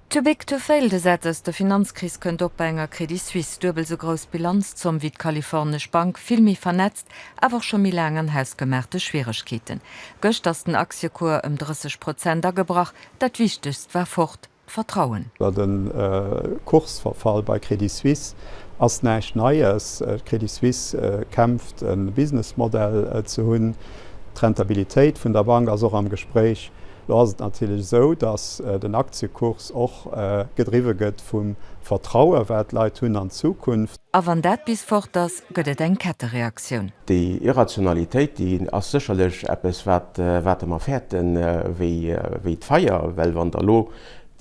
Too big to fail, de Sätz aus der Finanzkris kënnt och bei enger Credit Suisse. Duebel esou grouss Bilanzzomm wéi d'kalifornesch Bank, vill méi vernetzt, awer och scho méi laang an hausgemaachte Schwieregkeeten. Gëscht ass den Aktiekuer ëm 30 Prozent agebrach. Dat wichtegst war fort, d'Vertrauen. De Kursverfall bei Credit Suisse ass näischt Neies. D'Credit Suisse kämpft e Business Modell ze hunn. D'Rentabilitéit vun der Bank ass och am Gespréich. Lo ass et natierlech esou, datt den Aktiekurs och gedriwwe gëtt vum Vertraue wat d'Leit hunn an d'Zukunft. A wann dat bis fort ass, gëtt et eng Kettereaktioun. Déi Irrationalitéit, déi ass sécherlech eppes wat wat Der mer fäerten wéi wéi d'Feier, well wann Der elo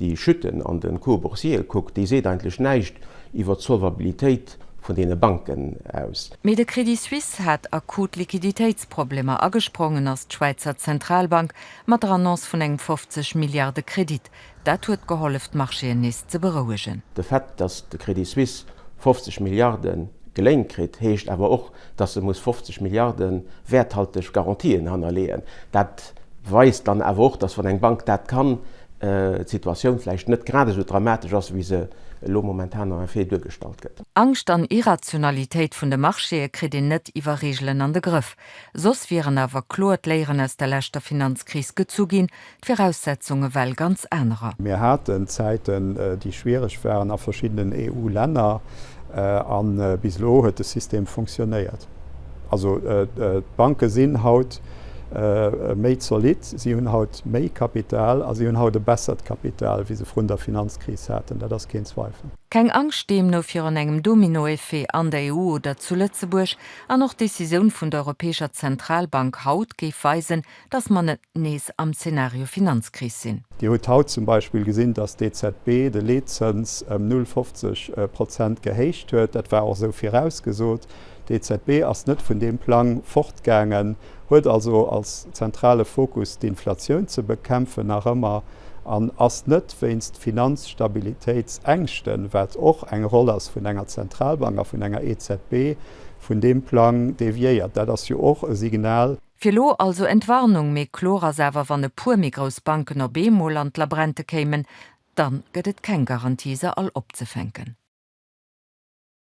déi Chute an de Cours boursiere kuckt, déi seet eigentlech näischt iwwert d'Solvabilitéit vun deene Banken aus. Mee de Crédit Suisse hat akut Liquiditéitsproblemer a gesprongen ass d'Schwäizer Zentralbank mat der Annonce vun engem 50 Milliarde Kredit. Dat huet gehollef d'Marchéen nees ze berouegen. De Fait, datt de Crédit Suisse 50 Milliarde geléint kritt, heescht awer och, datt se muss 50 Milliarde wäerthalteg Garantien hannerleeën. Dat weist dann awer och, datt wann eng Bank dat kann, d'Situatioun vläicht net grad esou dramatesch ass, wéi se elo momentan en effet duergestallt gëtt. Angscht an Irrationalitéit vun de Marchéë kritt een net iwwer Reegelen an de Grëff. Soss wieren awer kloer d'Léieren aus der leschter Finanzkris gezu ginn, d'Viraussetzunge well ganz anerer. Mir haten Zäiten, déi schwiereg waren a verschiddenen EU-Länner, a bis elo huet de System funktionéiert. Also d'Banke sinn haut méi zolidd, si hunn haut méi Kapital a si hunn haut e bessert Kapital, wéi se vrun der Finanzkris haten, dat ass keen Zweifel. Keng Angscht deemno virun engem Dominoeffet an der EU oder zu Lëtzebuerg. An och d'Decisioun vun der Europäescher Zentralbank haut géif weisen, datt mer net nees am Zeenario Finanzkris sinn. Dir hutt haut zum Beispill gesinn, datt d'EZB de Leetzëns ëm 0,50 Prozent gehéicht huet. Dat war och esou virausgesot. D'EZB ass net vun deem Plang fortgaangen. huet also als zentrale Fokus d'Inflatioun ze bekämpfen nach ëmmer an ass net wéinst Finanzstabilitéitsängschten, wat och eng Roll ass vun enger Zentralbank a vun enger EZB, vun deem Plang deviéiert. Dat ass jo och e Signal. Fir elo also Entwarnung, mee kloer ass awer, wann e puer méi grouss Banken op eemol an d'Labrente kéimen, dann gëtt et keng Garantie se all opzefänken.